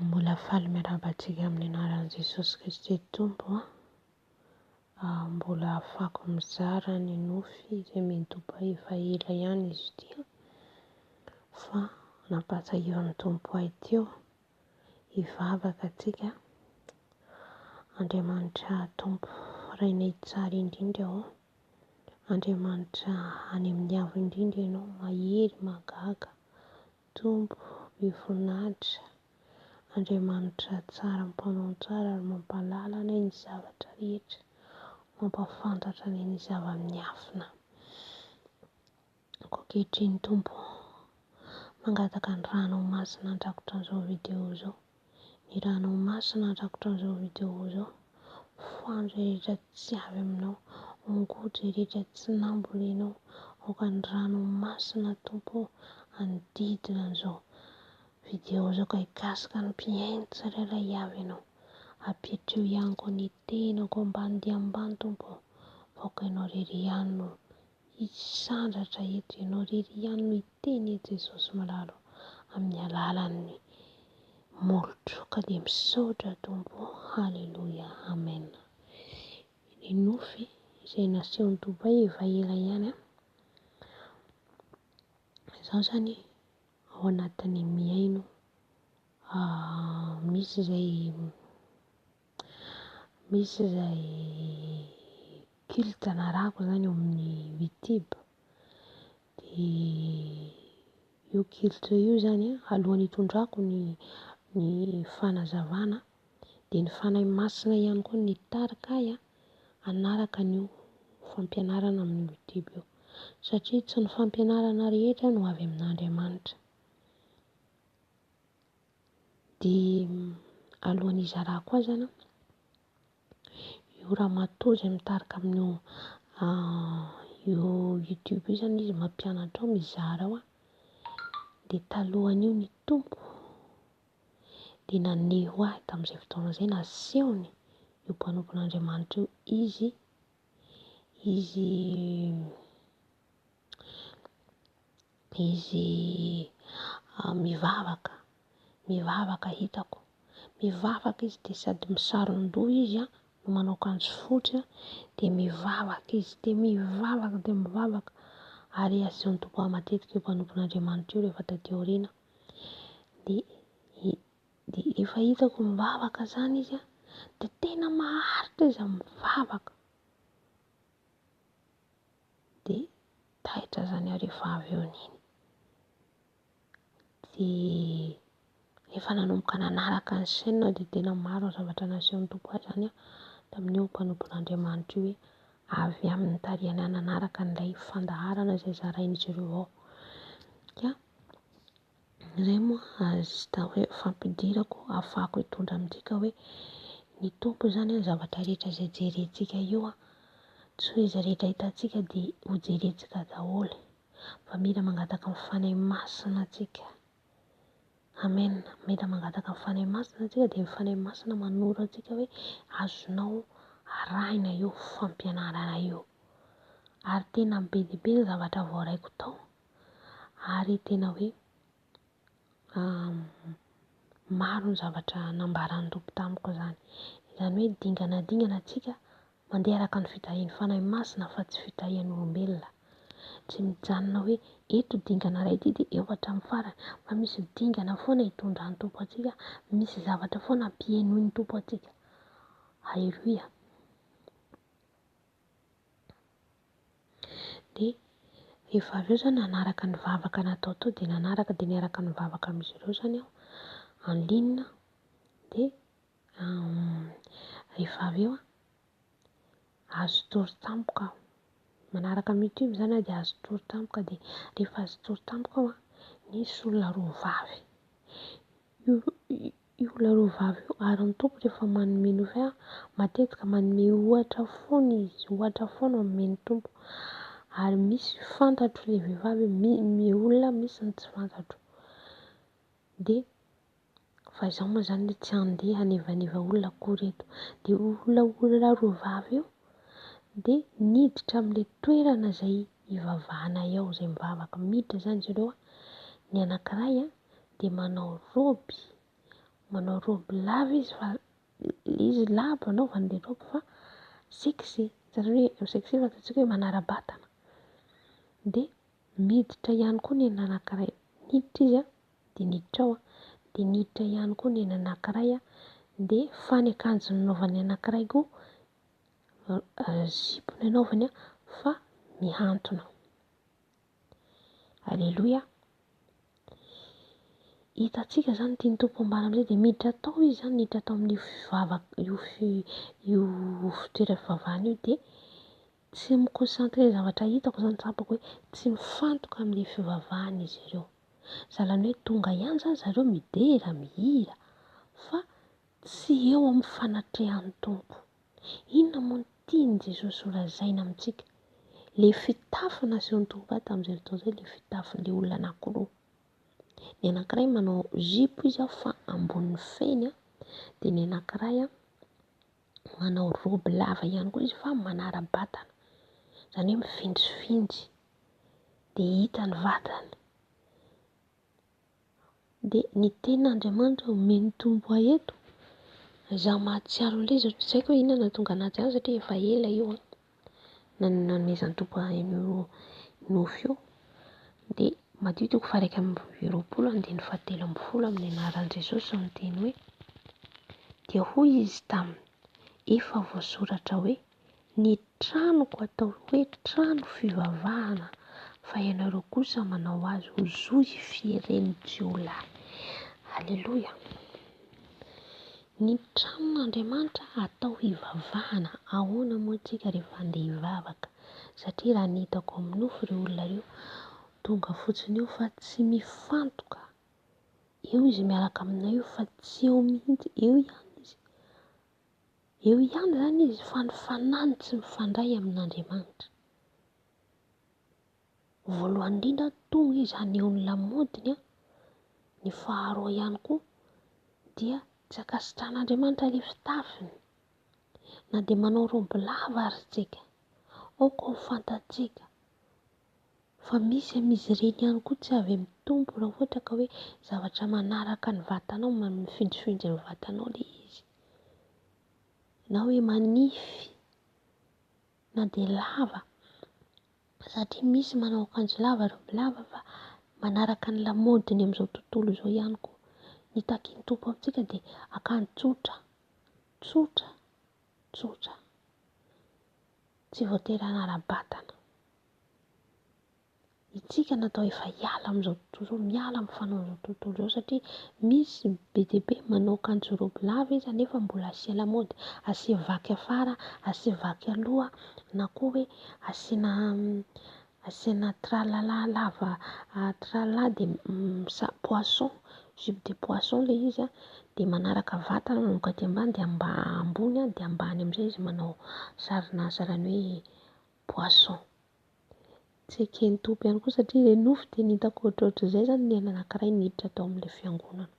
Mbola faly miarahaba antsika amin'ny anaran'i Jesosy Kristy Tompo a! Mbola afaka mizara ny nofy izay midoboka efa ela ihany izy ity fa nampahatsiahivan'ny Tompo ahy teo hivavaka antsika. Andriamanitra Tompo Rainay tsara indrindra ô! Andriamanitra any amin'ny avo indrindra ianao, mahery mahagaga, Tompo be voninahitra, Andriamanitra tsara mpanao ny tsara ary mampahalala anay ny zavatra rehetra, mampahafantatra anay ny zava-miafina. Koa ankehitriny Tompo ô, mangataka ny Ranao Masina handrakotra an'izao video izao. ny ranao masina rakotra an'izao vidéo zao fohano zay rehetra tsy avy aminao ongoty zay rehetra tsy nambolenao aoka ny rano masina tompo anodidina an'izao vidéo zao ka hikasika ny mpihaino tsirairay avy ianao apetreo ihany koa ny tenako ambany dia ambany tompo fa aoka ianao irery ihany no Hisandratra eto ianao irery ihany no hiteny e Jesosy malalo amin'ny alalan'ny molotro ka dia misaotra Tompo o Haleloia Amen Ny nofy izay nasehon'i Dubaï efa ela ihany an Izaho izany ao anatin'ny mihaino misy izay Misy izay culte narahako izany eo amin'ny Youtube, dia io culte io izany an, alohan'ny hitondrako ny ny fanazavana dia ny Fanahy Masina ihany koa no nitarika ahy hanaraka an'io fampianarana amin'ny Youtube io, satria tsy ny fampianarana rehetra no avy amin'Andriamanitra. Dia alohan'ny hizarako azy an, io ramatoa izay mitarika amin'io youtube io zany izy mampianatra ao mizara ao an, dia talohan'io ny tompoko dia naneho ahy tamin'izay fotoana izay, nasehony io mpanompon'Andriamanitra io izy, izy. izy mivavaka, mivavaka hitako, mivavaka izy de sady misaron-doha izy an, manao akanjo fotsy an, de mivavaka izy, de mivavaka de mivavaka, ary asehon'ny Tompo ahy matetika io mpanompon'Andriamanitra io rehefa taty aoriana, de de efa hitako mivavaka zany izy an, de tena maharitra izy mivavaka. dia taitra izany hariva avy eo iny. Dia rehefa nanomboka nanaraka ny chaîne aho dia tena maro ny zavatra nasehon'ny Tompo ahy izany tamin'io mpanompon'Andriamanitra io hoe avy amin'ny tarehiny aho nanaraka an'ilay fandaharana izay zarain'izy ireo ao. Izay moa hahita hoe fampidirako hahafahako hitondra amintsika ka hoe ny Tompo izany ny zavatra rehetra izay jerentsika io tsy hoe izay rehetra hitantsika dia ho jerentsika daholo fa mila mangataka ny Fanahy Masina tsika. Amen, mila mangataka ny Fanahy Masina tsika dia ny Fanahy Masina manoro antsika hoe azonao arahina io fampianarana io ary tena be dia be ny zavatra voaraiko tao. ary tena hoe maro ny zavatra nambaran'ny Tompo tamiko izany, izany hoe dingana dingana antsika mandeha araka ny fitahian'ny Fanahy Masina fa tsy fitahian'olombelona, tsy mijanona hoe eto dingana iray ity dia eo hatramin'ny farany fa misy dingana foana hitondran'ny Tompo antsika, misy zavatra foana hampihenoin'ny Tompo antsika, aleloia. Dia rehefa avy eo izao nanaraka ny vavaka natao teo dia nanaraka dia niaraka nivavaka amin'izy ireo izany aho en ligne. Dia rehefa avy eo azo tory tampoka aho. Manaraka amin'ny youtube izany aho dia azo tory tampoka. Dia rehefa azo tory tampoka aho dia nisy olona roa vavy. Io ilay roa vavy io ary ny Tompo rehefa manome nouvelle matetika manome ohatra foana izy, ohatra foana omeny ny Tompo ary misy fantatro ilay vehivavy ny olona misy ny tsy fantatro de fa izaho moa zany le tsy handeha hanevaneva olona akory eto de io olona roa vavy io de niditra amle toerana zay hivavahana eo zay mivavaka miditra zany zareo ny anakiray a. dia manao robe, manao robe lava izy fa ilay izy lava anaovany ilay robe fa sexy, hitanareo hoe sexy fantantsika hoe manara-batana, dia miditra ihany koa ny an'ny anankiray, miditra izy an, dia niditra ao an, dia niditra ihany koa ny an'ny anankiray an, dia fa ny akanjo nanaovan'ny anankiray koa zipo no anaovany an fa mihantona. Aleloia. Hitantsika izany tian'ny Tompo ambara amin'izay dia miditra tao izy izany, miditra tao amin'io fivavaka io fi- io fitoeram-pivavahana io dia tsy mi-concentrer ny zavatra hitako izany tsapako hoe tsy mifantoka amin'ny fivavahana izy ireo. Zany hoe tonga ihany izany zareo midera, mihira fa Tsy eo amin'ny fanatrehan'ny Tompo. Inona moa no tian'i Jesosy ho lazaina amintsika? Ilay fitafy nasehon'ny tovolahy tamin'izay fotoana izay, ilay fitafin'ilay olona anankiroa. Ny anankiray manao zipo izy fa ambonin'ny feny, dia ny anankiray manao robe lava ihany koa izy fa manara-batana, izany hoe mifinjifinjy, dia hita ny vatany. Dia ny tenin' Andriamanitra no omeny ny tombo ahy eto. Izaho mahatsiaro an'ilay izy, tsy haiko hoe inona no nahatonga anà azy any satria efa ela io nanomezan'ny tompo ahy an'io nofy io. Dia maditiko faha iraika amby roapolo andininy faha telo ambin'ny folo amin'ny anaran'i Jesosy no niteny hoe. Dia hoy Izy taminy, efa voasoratra hoe. Ny tranoko atao hoe trano fivavahana fa ianareo kosa manao azy ho zo hifieren'ny jiolahy. Aleloia. Ny tranon'Andriamanitra atao hivavahana, ahoana moa tsika rehefa andeha hivavaka? Satria raha ny hitako amin'ny nofo ireo olona ireo tonga fotsiny eo fa tsy mifantoka, eo izy miaraka aminay io fa tsy eo mihitsy, eo ihany izy. Eo ihany izany izy fa ny fanahiny tsy mifandray amin'Andriamanitra. Voalohany indrindra tonga izy haneho ny lamodiny, ny faharoa ihany koa dia tsy ankasitrahan'Andriamanitra ilay fitafiny na dia manao roby lava aza isika, aoka ho fantatsika Fa misy amin'izy ireny ihany koa tsy avy amin'ny Tompo raha ohatra ka hoe zavatra manaraka ny vatanao, mifindrifindry amin'ny vatanao ilay izy. Na hoe manify na dia lava satria misy manao akanjo lava ry bibilava fa manaraka ny lamaodiny amin'izao tontolo izao ihany koa. Ny takin'ny Tompo amintsika dia akanjo tsotra, tsotra, tsotra. Tsy voatery hanara-batana. Isika natao efa hiala amin'izao tontolo izao, miala amin'ny fanaon'izao tontolo izao satria misy be dia be manao akanjo robe lava izy nefa mbola asia lamaody, asia vaky afara, asia vaky aloha na koa hoe asiana asiana tralalà lava tralalà dia samy poisson, jupe de poisson ilay izy an, dia manaraka vatana manomboka aty ambany dia mba ambony dia ambany amin'izay izy manao sarina sarany hoe. poisson. Tsy eken'ny Tompo ihany koa satria ilay nofy dia ny hitako ohatrohatr'izay izany ny aina anankiray niditra tao amin'ilay fiangonana.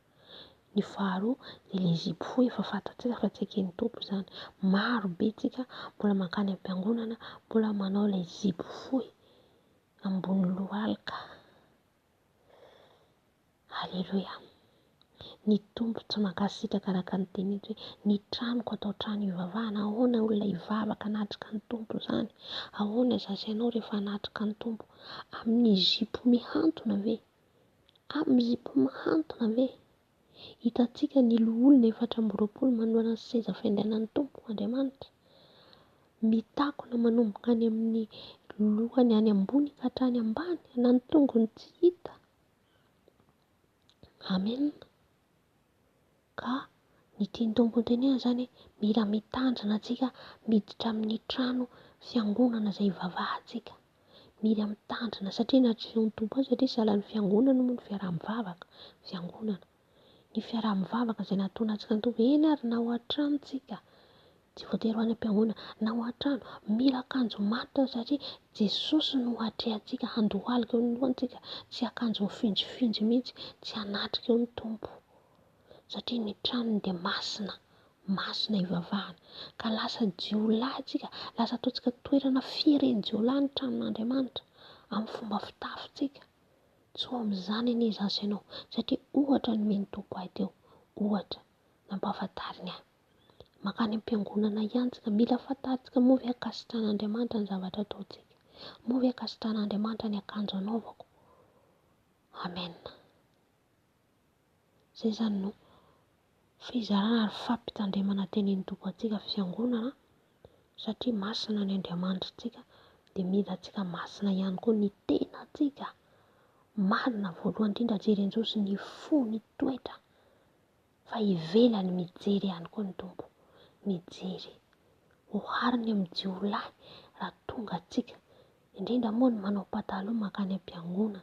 Ny faharoa dia ilay zipo fohy efa fantatsika fa tsy eken'ny Tompo izany. Maro be isika mbola mankany am-piangonana mbola manao ilay zipo fohy ambony lohalika. Aleloia! Ny Tompo tsy mankasitraka araka ny teny eto hoe ny tranoko atao trano hivavahana. Ahoana olona hivavaka hanatrika ny Tompo izany? Ahoana izaho sy ianao rehefa hanatrika ny Tompo? Amin'ny zipo mihantona ve? Amin'ny zipo mihantona ve? Hitantsika ny loholona efatra amby roapolo manoloana ny seza fiandrianan'ny Tompo Andriamanitra, mitakona manomboka any amin'ny lohany any ambony ka hatrany ambany, na ny tongony tsy hita. Amen. Ka ny tian'ny Tompo hotenenana izany hoe mila mitandrina antsika miditra amin'ny trano fiangonana izay hivavahantsika. Mila mitandrina satria natrehin'ny Tompo azy satria sahalan'ny fiangonana moa ny fiaraha-mivavaka, fiangonana. Ny fiaraha-mivavaka izay nahatonantsika ny Tompo, eny ary na ao an-trano tsika, tsy voatery ho any am-piangonana, na ao an-trano, mila akanjo maty aho satria Jesosy no atrehantsika, handohalika eo ny lohany tsika, tsy akanjo mifinjifinjy mihintsy, tsy hanatrika eo ny Tompo. satria ny tranony dia masina, masina hivavahana ka lasa jiolahy isika, lasa ataontsika toerana fieren-jiolahy ny tranon'Andriamanitra amin'ny fomba fitafintsika, tsy ho amin'izany anie izaho sy ianao satria ohatra no omen'ny Tompo ahy teo, ohatra nampahafantariny ahy, mankany am-piangonana ihany isika, mila fantarintsika moa ve ankasitrahan'Andriamanitra ny zavatra ataontsika? moa ve ankasitrahan'Andriamanitra ny akanjo anaovako? Amen. Izay izany no fizarana ary fampitandremana tenenin'ny Tompo antsika fiangonana satria masina ny Andriamanitritsika dia mila antsika masina ihany koa ny tenantsika. Marina voalohany indrindra jerenjeho sy ny fo ny toetra fa ivelany mijery ihany koa ny Tompo, mijery. Ohariny amin'ny jiolahy raha tonga antsika, indrindra moa ny manao pataloha mankany am-piangonana.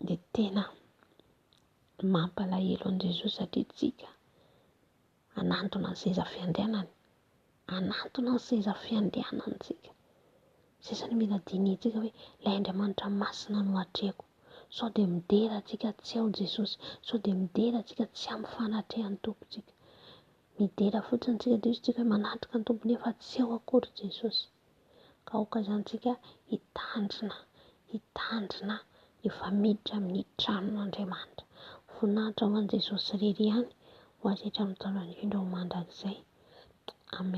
dia tena mampalahelo an'i Jesoa satria isika hanantona ny seza fiandrianany, hanantona ny seza fiandrianany isika, sisa ny mila dinihintsika hoe ilay Andriamanitra masina no atrehiko, sao dia midera antsika tsy ao Jesosy, sao dia midera antsika tsy amin'ny fanatrehan'ny Tompo isika, midera fotsiny isika dia hoy isika hoe manatrika ny Tompo nefa tsy ao akory Jesosy. Ka aoka izany isika hitandrina, hitandrina efa miditra amin'ny tranon'Andriamanitra. Voninahitra ho an'i Jesosy irery ihany ho azy hatramin'ny taona indrindra ho mandrakizay. Amen.